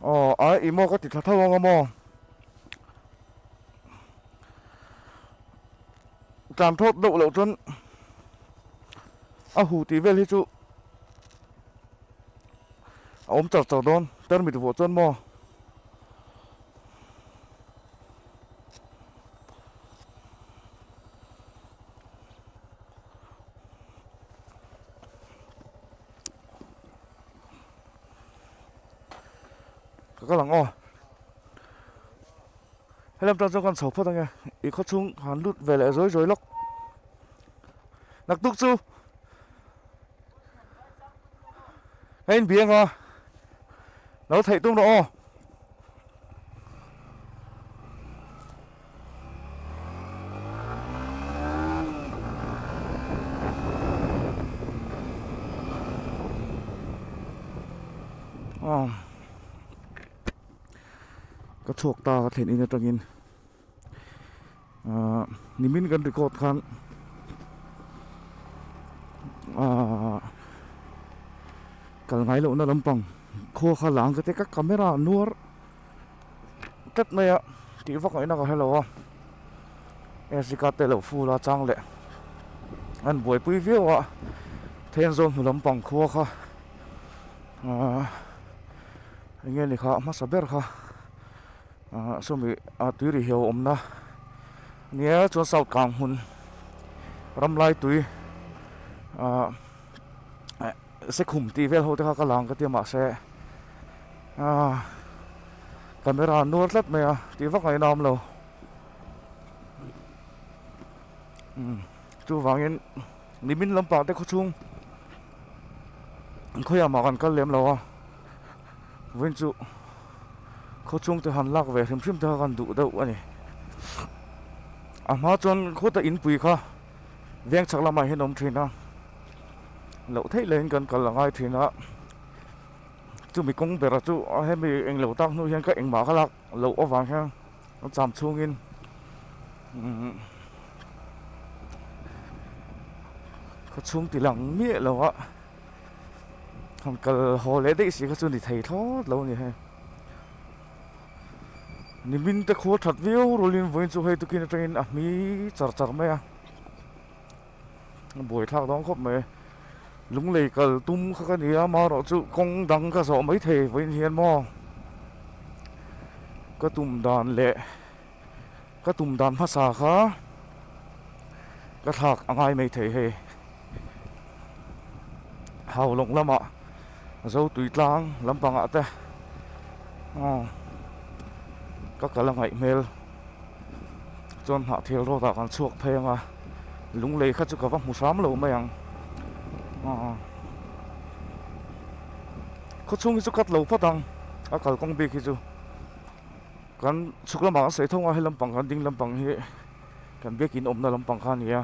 Aw a i maw ka ti thla tho ang a maw tlan thawt deuh loh chuan a hu tih vel hi chu a awm char char dawn permit vuah chuan maw ka lang aw helam ta chokan chho phawt ange i khaw chung han lut ve leh zoi zoi lawk naktuk chu ka in biang a lo theih tum rawh aw ka chhuak ta ka thlen in atangin. ah nimin kan record khan ah kal ngai lohna lampang khaw kha lang ka te ka camera nuar tlat mai a tih vak ngaihna ka hre lo a SD card te lo full a chang leh an buaipui viau a then zawm hmu lampang khaw kha ah enge ni kha hmasa ber kha a sawmi ah tui rih heuh a awmna nia chuan south kang hmun ramlai tui ah sekhum tih vel ho te kha ka lang ka tia mahse ah camera an nuar tlat mai a ti vak a inawm lo chuvangin nimin lampang te khawchhung khawiamah kan kal lem lo a Vawin chu khaw chhungte han lak ve hrim hrim te kha kan duh deuh a ni. A hma chuan khawta inpui kha veng chak lamah hian a awm thin a, loh theih leh in kan kal a ngai thin a, chumi kawng bera chu hemi eng lo tak hnu hian ka engmah ka lak loh avang hian a cham chhung in umm khaw chhung ti lang miah lo a. han kal haw leh daih si kha chu ni thei thlawt lo a ni hei ni hming te khual that viau rulin vawiin chu hei tukin atangin a hmi char char mai a buai thlak dang khawp mai lunglei kal tum kha ka nia amarawh chu kawng dang ka zawh mai thei vawiin hian maw ka tum dan leh Ka tum dan hmasa kha ka thlak a ngai mai thei hei. Haulawng lamah Zotui tlang lampangah te aw ka kal a ngaih hmel chuan Hnahthial road ah kan chhuak phei anga Lunglei kha chu ka va hmu hram lo mai ang aw khawchhung hi chu cut lo phawt ang a kalkawng bik hi chu. kan chhuk lamah kan sawi thung a helam pang kan ding lam pang hi kan biak in awmna lam pang kha nia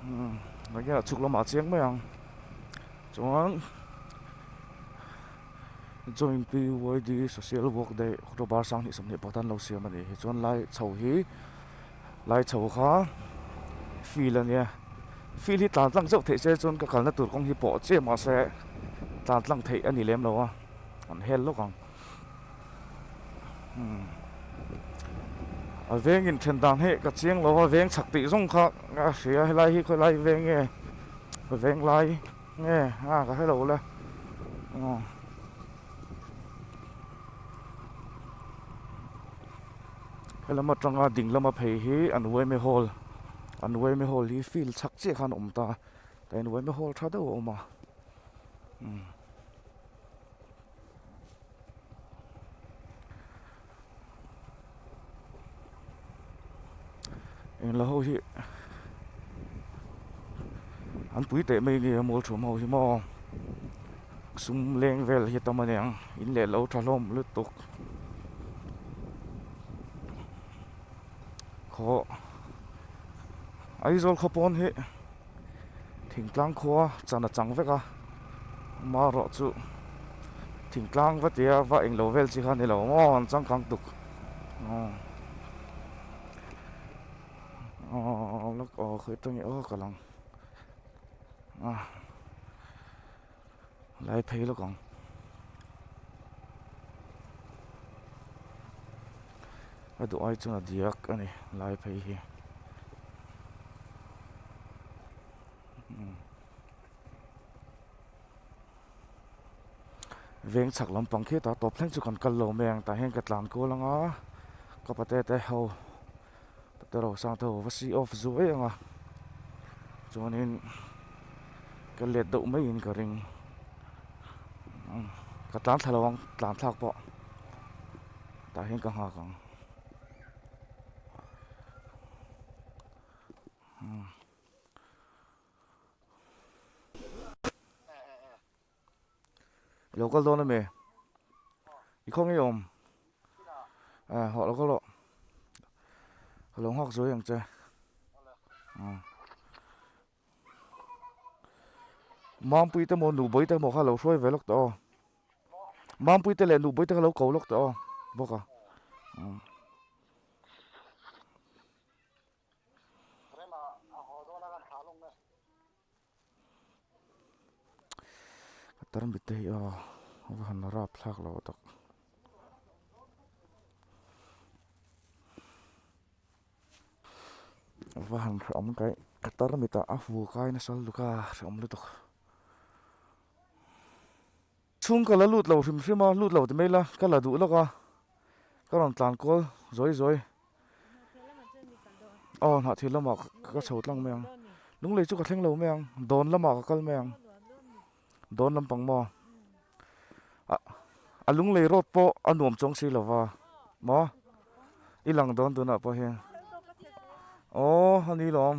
umm kan hian a chhuk lamah a cheng mai ang chuan join pydi social work daih october sang hnih sawmhnih pakhat an lo siam a nih hi chuan lai chho hi lai chho kha feel a nia feel hi tlan tlang zeuh theih se chuan ka kalna tur kawng hi pawh che mah se tlan tlang theih a ni lem lo a an hel lawk ang. a veng in then dan hi ka chiang lo a veng chak tih zawng kha a hria a helai hi khawilai veng nge veng lai nge a ka hre lo la aw helam atang a ding lam a phei hi an uaime hall an uaime hall hi field chak chiah khan a awm ta ka in uaime hall tha deuh a awm a. engla ho hi an pui teh mai nge mall thum ho hi maw sum leng vel hi tam a niang in leh lo tha hlawm lutuk khaw Aizawl khaw pawn hi. Thingtlang khua chan a chang vek a, mah rawh chu thingtlang va tia va eng lo vel chi kha ni lo maw ang changkang tuk aw aw lak aw khawih ta nge aw ka lang a. lai phei lawk ang a duh ai chuan a diak a ni lai phei hi veng chak lampang khitah tawp thleng chu kan kal lo mai ang tah hian ka tlan kual anga ka pa te te ho. doctor ho sang te ho va si off zu vek ang a chuanin ka let deuh mai in ka ring ka tlan thla lo ang tlan thlak pawh tah hian ka nghak ang I lo kal dawn em e. I khaw ngei awm. À, họ lo kal lo. Ka lo nghak zuai ang che. À. Mangpui te mo nu boi te mo kha lo hruai ve lawk ta aw. Mangpui te leh nu boi te kha lo ko lawk ta aw. Bawk à. À. ka tarmit te hi a va han rap thlak lo tak a va han hrawm kaih ka tarmit ah a fu kai nasal luka hrawm lutuk. Chhung ka la lut lo hrim hrim a, lut lo ti mai la, ka la duh lawk a, ka rawn tlan kual zawi zawi. Hnahthir lamah chuan mi kal dawh ang. Aw, hnahthir lamah ka chho tlang mai ang. Lunglei chu ka thleng lo mai ang, dawn lamah ka kal mai ang. Dawn lampang maw? A Lunglei road pawh a nuam chuang si lo va, maw? I lang dawn tunah pawh hian. Aw, a ni lawm.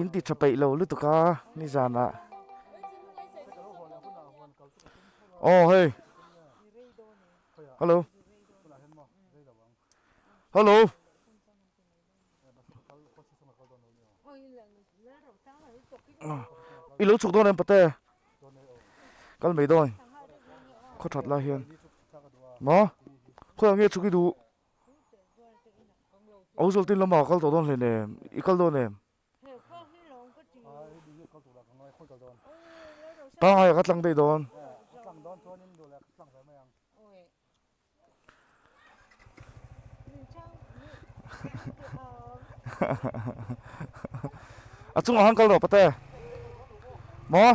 in ti tha peih lo lutuk a nizan ah aw hei hello hello i lo chhuk dawn em pate kal mai dawn khaw that lai hian ma khaw ang nge chhuki duh Aizawl tin lama kal tawh dawn hlei nen, i kal dawn em? Tanghai ah ka tlang daih dawn. A chungah khan kal rawh Pate. Maw?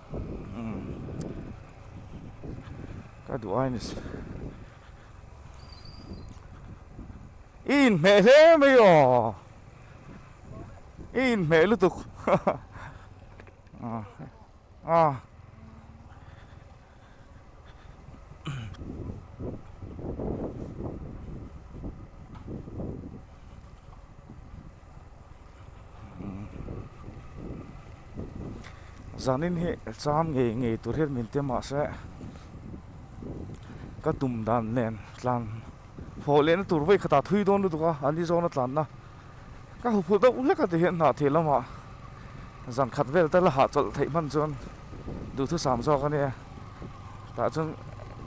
Ka duh ai nise i in hmeh hle mai aw i in hmeh lutuk a a. zan in hi cham ngei ngei tur hi min tia mah se ka tum dan nen tlan hmawh leh na tur vawikhat ah thui dawn lutuk a an i zawn a tlan na. Ka huphulh deuh hlek a ti hian hnah thih lama zan khat vel te la hah chawlh theih hman chuan duhthusam sam zawk a nia. Tah chuan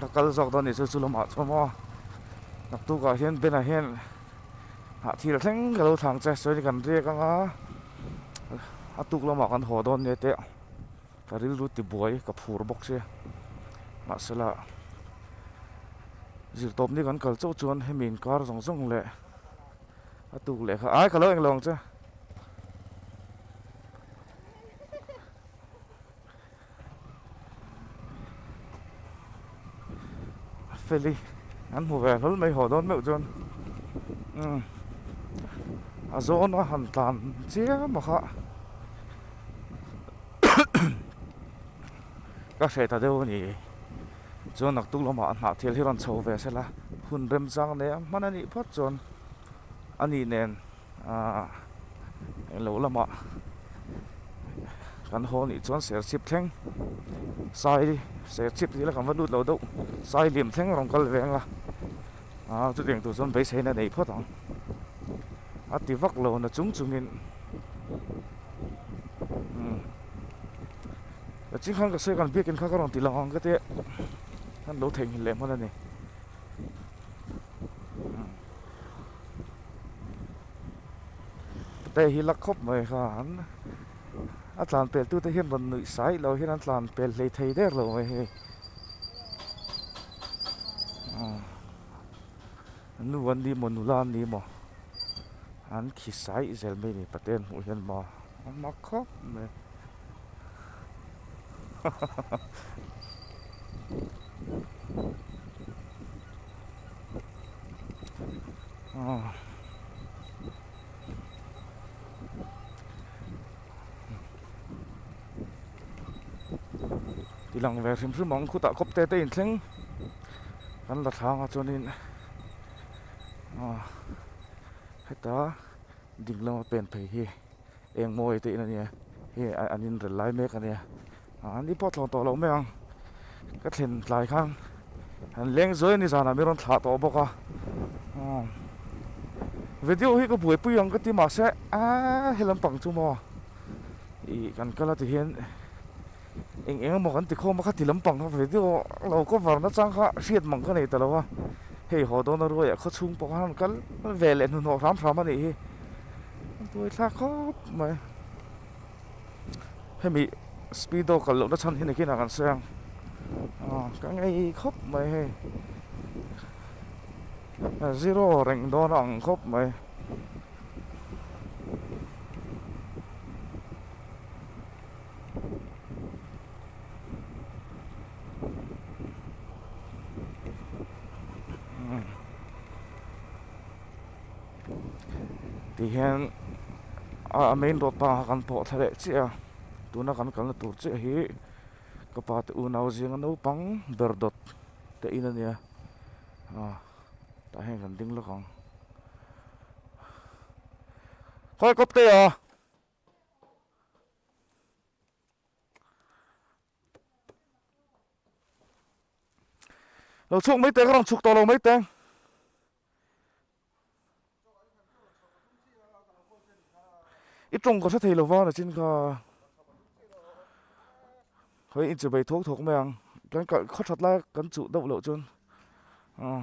ka kal zawk dawn nih chu chu lamah chu a maw a. Naktukah hian Bena hian hnah thil thleng ka lo thlang che sawi ni kan riak ang a. A tuk lamah kan haw dawn nia teh ka rilru ti buai ka phur bawk sia. Mahsela zir tawp ni kan kal chauh chuan hemi inkar zawng zawng leh. a tuk leh kha ai ka lo eng lo ang che feli an hmu ve hlol mai haw dawn meuh chuan um a zawna han tlan chiang maw kha ka hre ta deuh a ni. chuan rak tuk lamah a hnah thel hi rawn chho ve se la hun remchang nei ang hman a nih phawt chuan a nih nen aah eng loh lamah kan haw nih chuan ser chhip thleng sai ser chhip tih ila kan va lut loh deuh sai liam thleng a rawn kal ve ang a aah chutiang tur chuan beisei in a nei phawt ang a ti vak lo na chung chungin umm. ka ching khan ka sawi kan biakin kha ka rawn ti lo ang ka ti a khan lo theihnghilh leh hman a ni ka tei hi lak khawp mai khan a tlan pel tute hian rawn nuih sai loh hian an tlan pel hlei thei der lo mai hei nu an nih maw nula an nih maw an khi sai zel mai ni paten hmuh hian maw. a hma khawp mai ti lang ve hrim hrim ang khutah khawp te te in thleng kan la thlanga chuan in heta. Dik lama pen phei hi eng maw a tih na nia hei an in rel lai mek a nia aa ni pawh thlawh tawh loh mai ang ka thlen tlai khan an leng zuai a ni zan ah min rawn thlah tawh bawk a aa video hi ka buaipui ang ka ti mahse aa helampang chu maw ih kan kal a ti hian eng eng emaw kan ti khawm a khati lampang kha ve deuh a lo cover na chang kha hriat mang ka nei ta lo a hei haw dawna ruai ah khawchhung pawh han kal ve leh hnuhnawh hram hram a nih hi buaithlak khawp mai hemi speedo kal lohna chhan hi nakin a kan sawi ang ah ka ngei khawp mai hei zero reng dawn a ang khawp mai tih hian a main road bangah kan pawh thla leh chiah a tuna kan kalna tur chiah hi ka pa te unau zinga naupang ber dawt te in a nia ah tah hian kan ding lawk ang khawi kawp te aw. Lo chhuk mai te ka rawn chhuk tawh lo mai te. I tawng ka hre thei lova na chin kha. Hoi in chu bei thawk thawk mai ang. Kan kal khaw that lai kan chuh deuh loh chuan. Aw.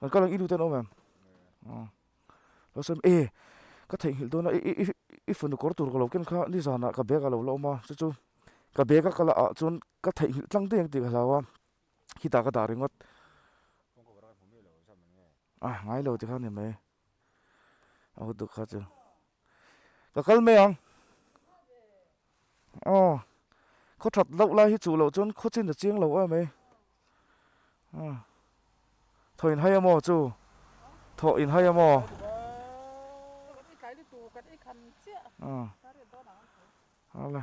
Kan ka lang i luten awm em? Aw. Lo sem e, ka theih nghilh dawn a, i i i fanu kawr tur ka lo ken kha nizan ah ka bag ah lo la awm a, chu chu ka bag a ka la ah chuan ka theih nghilh tlang daih ang tih ka hlau a, khitah ka dah ringawt. Kawngka varak ah hmuh mi lo zawk a ni e. A, ngai lo ti kha a ni mai. a hut duk kha chu ka kal mai ang aw khaw that loh lai hi chuh loh chuan khaw chin a chiang loh em e aw thaw in hai a maw chu thaw in hai a maw aw ala.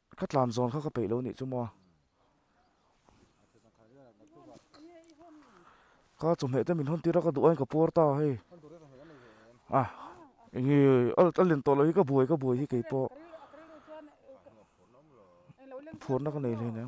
Ka tlan zawn kha ka peih lo nih chu maw? Ka chawhmeh te min hawn tir a ka duh ain ka puar ta hei. Ah, enge a len tawh loh hi ka buai ka buai hi kei pawh. Phurna ka nei hle nia.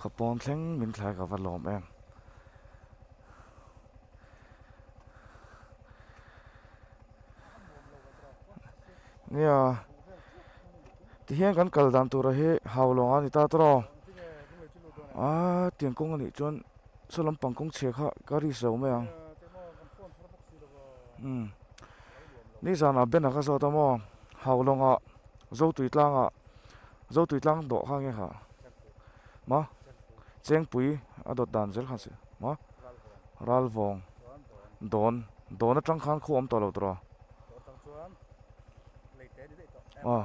khawpawm thleng min thlai ka va lawm em nia tihian kan kal dan tur hi hau lawnga ni ta tawrh aw aa tiang kawng anih chuan. saw lampang kawng chhe kha ka risk lo mai ang umm nizan ah banner ka zawt a maw haulawng ah zo tui tlang ah zo tui tlang dawh kha nge kha ma chengpui a dawt dan zel kha si ma ralvawng dawn dawn atang khan khaw a awm tawh lo tawh a ah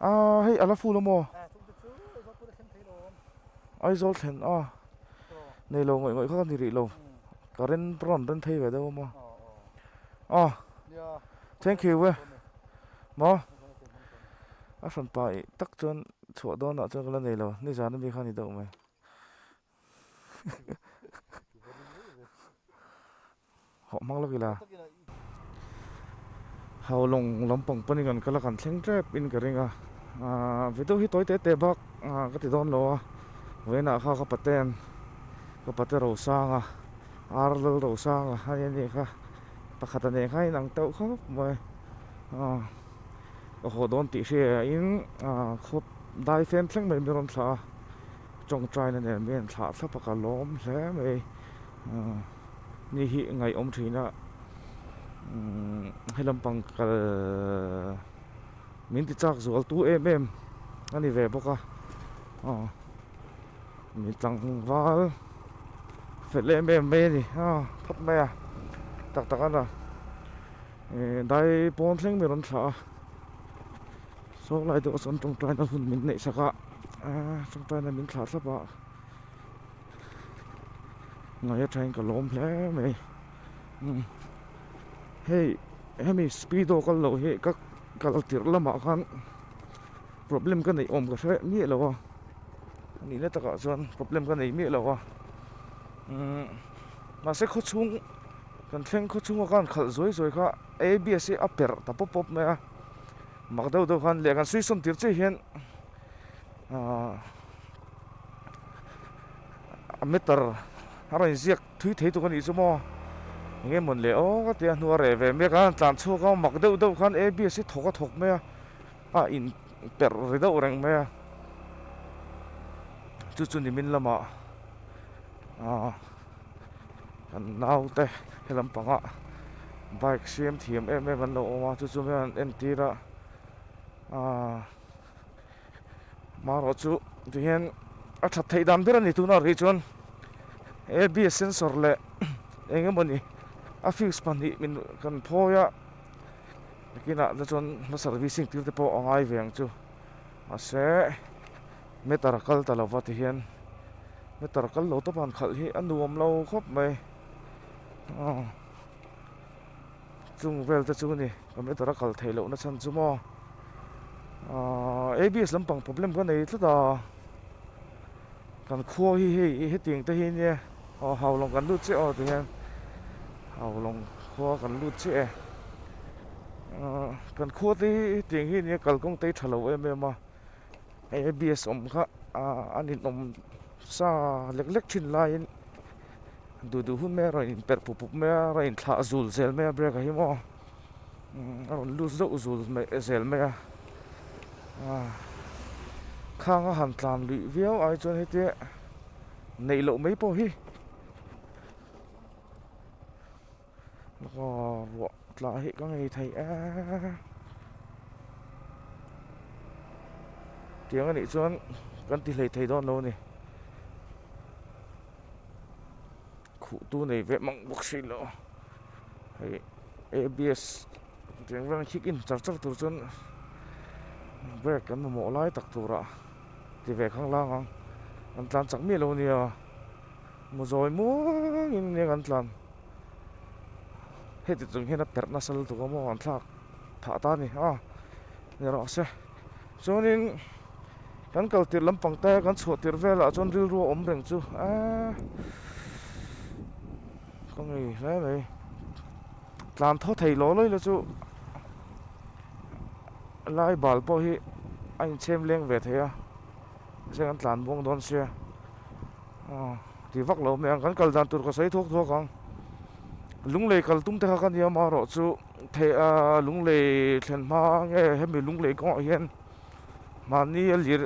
Aaa hei a la fu lo maw? Aizawl thlen a, nei lo ngawih ngawih kha ka ni rih lo, ka ren rawn ren thei ve deuh a maw? Aw, thank you e, maw? A hran pa i tak chuan chhuah dawnah chuan ka la nei lo, nizan ami kha a ni deuh mai. hauh hmang lawk ila haulawng lampang pawn in kan kal a kan thleng tep in ka ring a video hi tawi tete bak ka ti dawn lo a vawiinah kha ka paten ka pate ro sang a ar lal ro sang a a nia nia kha pakhat a nen kha in ang teuh khawp mai ka haw dawn tih hriain khaw dai fem thleng mai min rawn thlah a Tawngtaina nen mai an thlah thlap a ka lawm hle mai ni hi ngaihawm thin a hi lampang kal min ti chak zual tu em em a ni ve bawk a min tlangval felh em em mai a ni phawt mai a tak tak a la dai pawn thleng min rawn thlah a saw lai deuh a sawn tawngtaina hun min neih sak a. Aaa changtaina min thlah thlap a ngai athain ka lawm hle mai umm hei hemi speedo kal loh hi ka kal tirh lamah khan problem ka neih awm ka hre miah lo a a nihna takah chuan problem ka nei miah lo a umm mahse khaw chhung kan thleng khaw chhunga khan khalh zuai zuai kha a abs hi a perh ta pawp pawp mai a. Mak deuh deuh khan leh kan suisawn tir chiah hian a matter a rawn inziak thui thei tuk a nih chu maw engge mawn leh awk a tia hnu a reh ve mek a an tlan chhuak a mak deuh deuh khan abs hi thawk a thawk mai a a in perh ri deuh reng mai a chu chu ni min lamah a. an naute he lam pangah bike siam thiam em em an lo awm a chu chu mian an entir a aaa hmaruah chu ti hian a that theih dan ber a ni tuna rih chuan a b s sensor leh eng emaw ni a fuse pahnih min kan phawi a a kinah te chuan hma servicing tir te pawh a ngai ve ang chu. Mahse, meter kal ta lova ti hian meter kal lo tawpan khalh hi a nuam lo khawp mai. Aw, chung vel te chu ni ka meter a kal thei loh nachhan chu maw. Aw, abs lampang problem ka nei tlat a, kan khuawi hi hei hetiang te hi nia. Aw haulawng kan lut chiah aw tihian haulawng khua kan lut chiah e aah kan khua te hi tiang hi nia kalkawng te hi tha lo em em a hei abs awm kha aah an inawm sa lek lek thin laiin duh duh hun mai a rawn inperh pup pup mai a rawn inthlah zul zel mai a brake ah hi maw. a rawn lut zauh zul mai zel mai a khang a han tlan luih viau ai chuan hete neih loh mai pawh hi aw ruah tla hi ka ngei thei e tiang anih chuan kan ti hlei thei dawn lo a ni. khuh tu nei ve mang bawk hrih loh hei abs tiang rang hik in char char tur chuan brake kan mamawh lai tak turah ti ve khang lang ang an tlan chak miah lo nia muzawi muang in eng an tlan heti chung hian a perh nasa lutuk ang mawngah an thlak phah ta a ni a ni loh se. Chuanin kan kal tirh lam pangtaia kan chhuah tirh velah chuan rilru a awm reng chu a ka ngei hle mai. Tlan thaw thei law lawi la chu lai bal pawh hi a inchhem leng ve thei a, mahse kan tlan buang dawn sia aw ti vak lo mai ang. Kan kal dan tur ka sawi thuak thuak ang, lunglei kal tum te kha ka nia marawh chu. Theih a, lunglei thlen hma nge hemi lunglei kawngah hian mahni a lir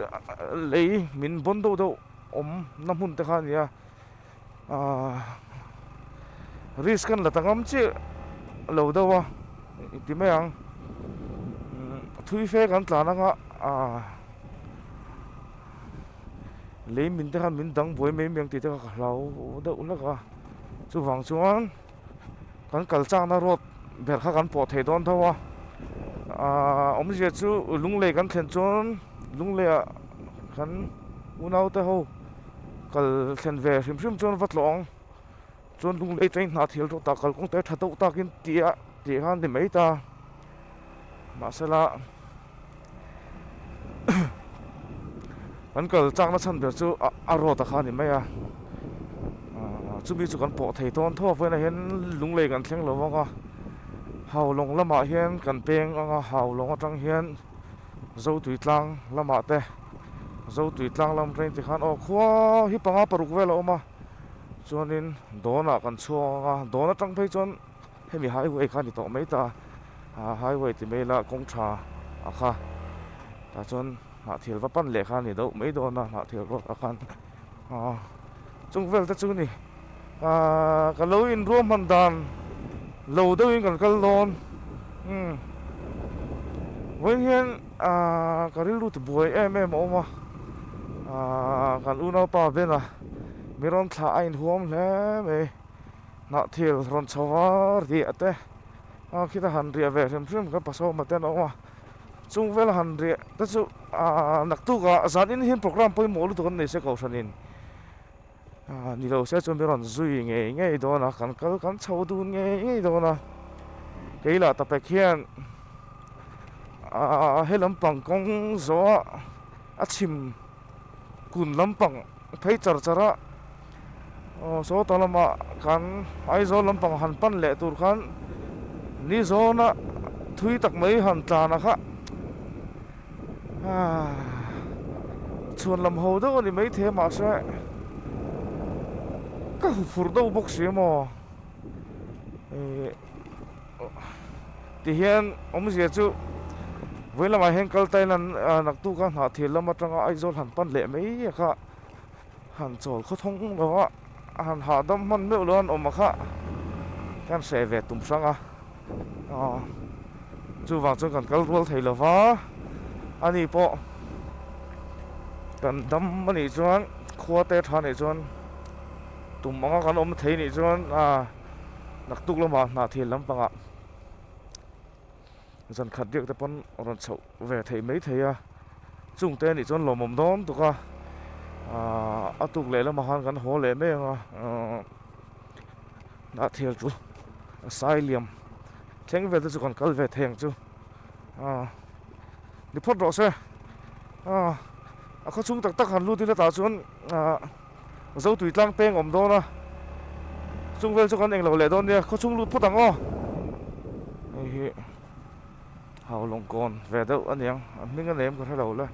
lei min bawn deuh deuh awmna hmun te kha a ni a, aaa risk an la ta ngam chiah lo deuh a ti mai ang, thui fe kan tlan ang a aaa leimin te khan min dang buai mai mai ang tih te kha ka hlau deuh hlek a, chuvang chuan. kan kal chakna road ber kha kan pawh thei dawn tho a aaa awmzia chu Lunglei kan thlen chuan Lunglei ah kan unaute ho kal thlen ve hrim hrim chuan va tlawh ang chuan Lunglei train hnathil road ah kalkawngte tha deuh takin ti a tih kha a ni mai ta mahsela. kan kal chakna chhan ber chu a road a kha a ni mai a ah chumi chu kan pawh thei dawn tho a vawiinah hian lunglei kan thleng lo vang a haulawng lamah hian kan peng ang a haulawng atang hian zotui tlang lamah te zotui tlang lam atang te khan aw khuaa hi panga paruk vel a awm a chuanin dawnah kan chhuak ang a dawn atang phei chuan. Hemi highway kha a ni tawh mai ta a, highway ti mai ila kawng tha a kha. Tah chuan hnahthel va pan leh kha a ni deuh mai dawn a, hnahthel ruak a khan. Aaa chung vel te chu ni. Aaa ka lo in ruah hman dan lo deuh in kan kal dawn. Umm vawiin hian aaa ka rilrut buai em em a awm a. Aaa kan unaupa Ben-a mi rawn thlah a in huam hle mai. Hnah thil rawn chho a riah te a khita han riah ve hrim hrim kha pasaw awmna te an awm a chung vela han riah te chu aa naktuk ah zan in hian programme pawimawh lutuk an nei se kohhran in aa ni lo se chu mi rawn zui ngei ngei dawn a kan kal kan chho dun ngei ngei dawn a kei lah ta pek hian aa he lampang kawng zawh ah a chhim kun lampang phei char char a Aw sawta lama kan Aizawl lampang han pan leh tur khan ni zawna thui tak mai han tlan a kha chhuan lam ho deuh a ni maithei mahse ka hu phur deuh bawk si emaw tihian awmzia chu vawihlamah hian kal tailan naktu ka nghah thir lam atanga Aizawl han pan leh mai a kha. Han chawl khaw thung lo a, a han hahdam hman meuh lo a, an awm a kha hian hreh ve tum hrang a, aw chuvang chuan kan kal rual thei lova, ani pawh kan dam a nih chuan khua te tha nih chuan tum anga kan awm thei nih chuan a naktuk lamah hnahthel lampangah. zan khat biakte pawn rawn chhoh ve theih mai thei a chung te anih chuan lawmawm dawm tuk a a tuk leh lamah khan kan haw leh mai ang a hnah thial chu a sai liam thleng vel te chu kan kal ve thei ang chu ni phawt rawh se a khawchhung tak tak han lut ila tah chuan. Zotui tlang peng awm dawn a, chung vel chu kan englo leh dawn nia, khawchhung lut phawt ang aw. Hei hi hau lawngkawn ve deuh aniang, a hming a nem ka hre lo le.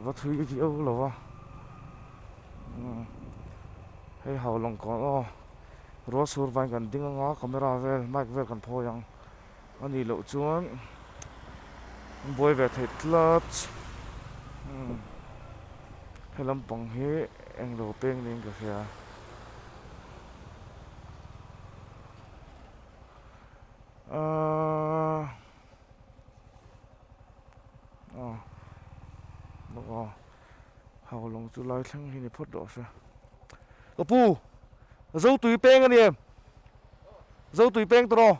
Va thui ka tih auh lo a, hei hau lawngkawn aw, rualsur vaiin kan ding anga camera vel mic vel kan phawi ang. A nih loh chuan buai ve theih tlat. Umm he lampang hi eng lo peng niin ka hria. Aaa aw aw. Haulawng chu lai thleng hi ni phawt rawh a hre. Ka pu, zo tui peng a ni em? Zo tui peng tawrh aw.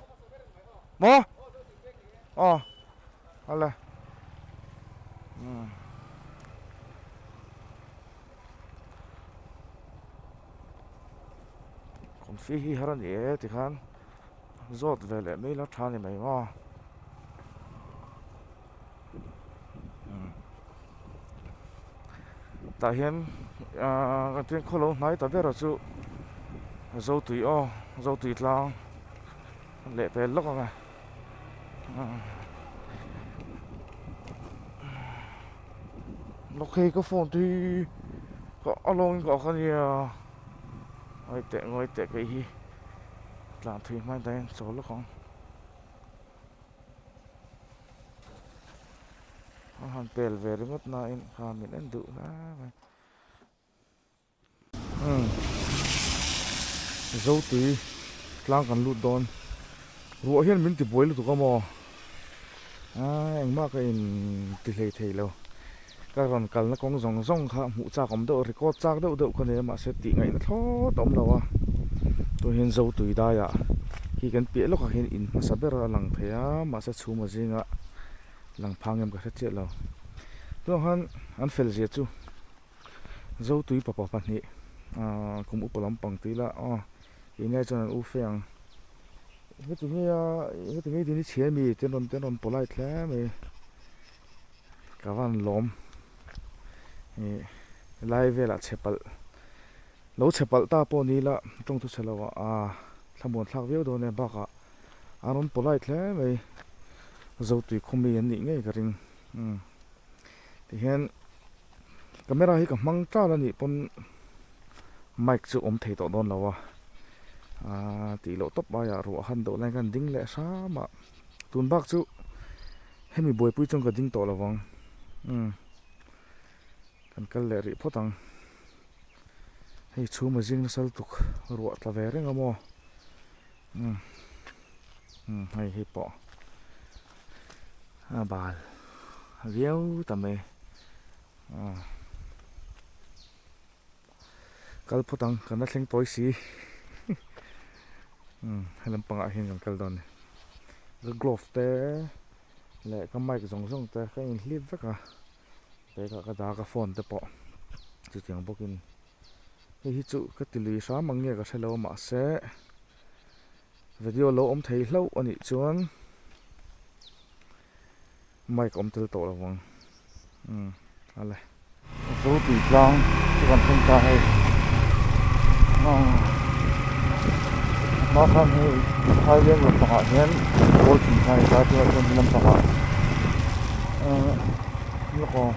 Maw? Aw, a le. Kawmfi hi har a ni e tikhan. zawt ve leh mai la tha ni mai maw umm tah hian ahh eng khaw lo hnai ta bera chu zo tui aw zo tui tlang leh pel lawk anga umm lawk phei ka phone te hi a lawngin ka ak ania. Ngawi teh ngawi teh kei hi tlan thui hmai dahin a chaw lawk ang. Kha han pel ve ringawt nain kha min en duh hle mai. Hmm. Zotui tlang kan lut dawn. Ruah hian min tibuai lutuk a maw? aii engmah ka inti hlei thei lo ka rawn kalna kawng zawng zawng kha hmuh chak awm deuh record chak deuh deuh ka nei a mahse tih ngaihna thlawt a awm lo a tunah hian zo tui daiah khi kan piah lawkah hian in hmasa ber a lang thei a mahse chhuma zingah lang phang em ka hre chiah lo tunah khan an felzia chu zo tui papa pahnih ahh kum upa lampang tih ila aw. ingaih chuan an u fe ang heti ngeia heti ngei tih hi chhiar mi ten rawn ten rawn pawh lai tle mai ka van lawm ih lai velah chhe palh lo chhe palh ta pawh ni ila tawngthu chhe lo ah a thlamuan thlak viau dawn e bakah an rawn pawh lai tle mai zotui khawmi an nih ngei ka ring umm tihian. camera hi ka hmang tlan anih pawn mic chu awm thei tawh dawn lo a aaa tih loh tawp aia ruah a han doh laia khan ding leh hram a tun bak chu hemi buaipui chuan ka ding tawh lo vang umm kan kal leh rih phawt ang hei chhum a zing nasal tuk ruah ta ve reng a maw. Hmm. Hmm, hei hi po. A bal. Viau ta me. Ah. Kal phutang kan na thleng poi si. Hmm, helam panga hin kan kal don. Ka glove te le ka mic zong zong te ka in hlip vek a. Pe ka ka da ka phone te po. Chu chiang bawk in. hei hi chu ka ti lui hram ang nge ka hrelo mahse video lo awm thei hlauh a nih chuan mic awm tel tawh lo vang umm a la zo tui tlang chu kan hman ta hei umm hma khan hi thaileng lampangah hian ball thinkai a tar chuan hemi lampangah umm-- Lawk aw.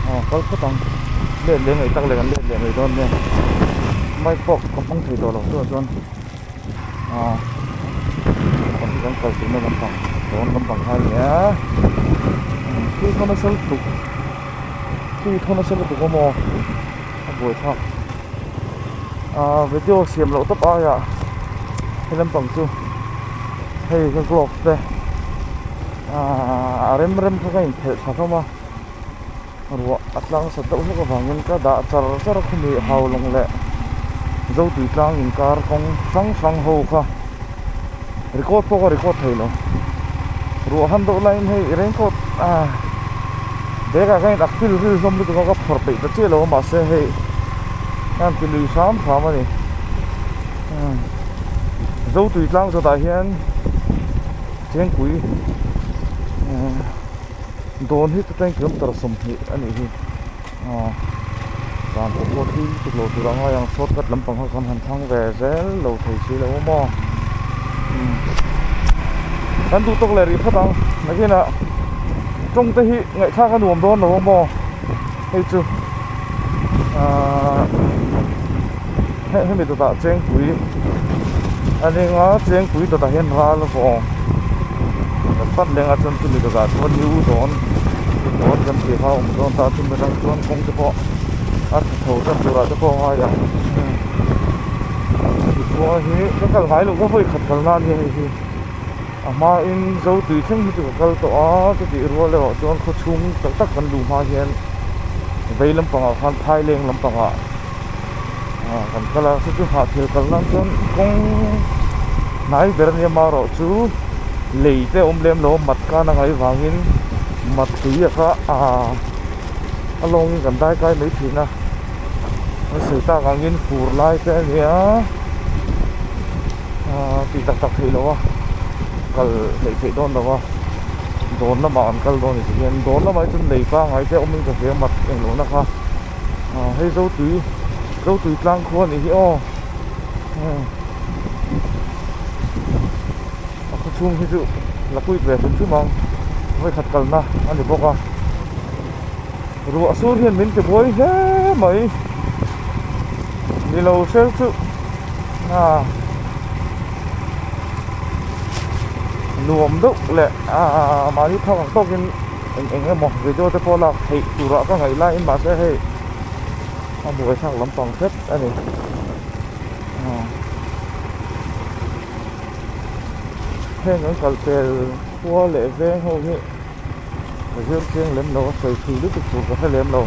Aw kal phawt ang. Let leh ngei tak leh kan let leh ngei dawn nen. Mic box kan hmang thei tawh lo chu ah chuan aw kan hi kan kal tih na lampang dawn lampang kha a ni a. Khi khaw nasal tuk khi khaw nasal lutuk awm aw. a buai thap ah video siam loh tak aia helai pang chu hei ka vlog te ah a rem rem kha ka inphelh tha hlawm a ruah a tlang sat deuh hlek avangin ka dah char char a khumi haulawng leh zotui tlang inkar kawng hrang hrang ho kha. record pawh ka record thei lo ruah han deuh laiin hei i raincoat ah bag ah hian ak pilril hlawm lutuk a ka phawrh peih ta chiah lo a mahse hei hian ti lui hram hram a ni umm zo tui tlang zawt ah hian thengpui umm dawn hi tuten kilometer sawmhnih a nih hi. Aw zan pawh pawh tling tuk lo tur ang a hei ang short cut lampang ho khan han thlang ve zel lo thei si lo maw umm kan duh tawk leh rih phawt ang nakinah tawng te hi ngaihthlak a nuam dawn lo maw hei chu aaa. hemi dawtah chengpui a ning a chengpui dawtah hian ral vawng ta tlat leng a chuan chumi dawtah chuan new dawn dawn kan tih kha a awm dawn ta chumi atang chuan kawng te pawh a tha tho tlat tur ah te pawh a ngai ang hemi khawnga hi ka kal ngai lo ka hawi khat kal na ania hei hi a hma in zo tui thleng hi chu ka kal tawh a chu tih rual erawh chuan khawchhung tak tak kan luh hma ah hian vei lampang ah khan thaileng lampang ah ah kan kal a hre chu hnah khel kal nan chuan kawng hnai ber a ni a maroh chu lei te awm lem lo mat kan a ngai vang in mat tui a kha ah a lawng in kan dai kai mai thin a nasei tak ang in fur lai te a nia ah tih tak tak theih lo a kal hleih theih dawn lo a dawn lamah an kal dawn ni si hian dawn lamah hi chuan lei pangngai te awm in ka hria mat engloh na kha. aw hei zo tui zo tui tlang khua a nih hi aw hmm a khaw chhung hi chu la puit ve hrim hrim ang vawikhat kalna a ni bawk a ruah sur hian min ti buai hle mai nilo hreu chu ah nuam deuh leh ah mahni thlang ang tawkin. eng eng emaw video te pawh lak theih turah ka ngaih laiin mahse hei a buai thlak lampang hret a ni aw heng an kal tel khua leh veng ho hi ka zir chiang lem lo a sawi thli lutuk tur ka hre lem lo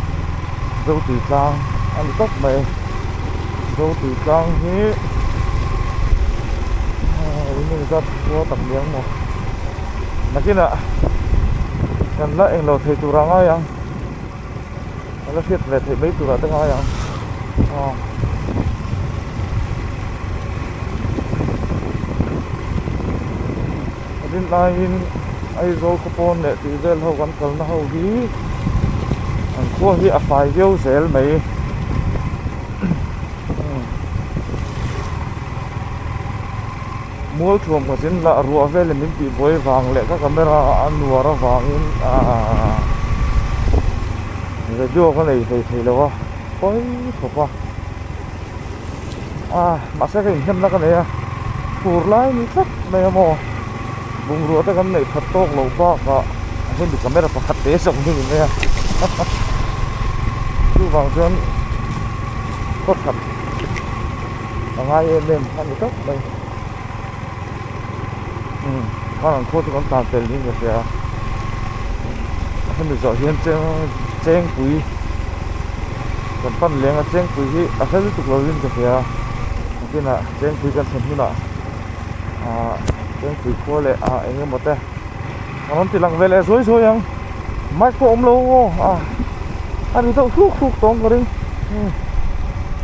zo tih tlang a ni tawp mai zo tih tlang hi aa ui ngei zat khua tak liam maw. Nakinah kan la englo thei turah ngai ang, kan la hriat leh theih mai turah te ngai ang aw. Rin aiin Aizawl khaw pawn leh tui vel ho kan kalna ho hi an khua hi a fai viau zel mai. Mualthuam ka zin lah ruah vel em in tih buai vang leh ka camera a nuar avangin aahh video ka nei hlei thei lo a pawi thawp a aah mahse ka inhnemna ka nei a tur lai ni tlat mai a maw bungrua te kan neih that tawk loh bakah hemi camera pakhat te zawng hi ni mai a haha chuvang chuan hawthap. a ngai em em a ni tawk mai umm khar an khaw chu kan tan fel niin ka hria a hemi zawh hian cheng chengpui kan pan leng a chengpui hi a hla lutuk lo in ka hria a a kinah chengpui kan chhen hunah ahh chengpui khaw leh ah eng emaw te a rawn ti lang ve leh zuai zuai ang mic pawh a awm lo aw a a ri deuh hruk hruk tawng ka ring umm.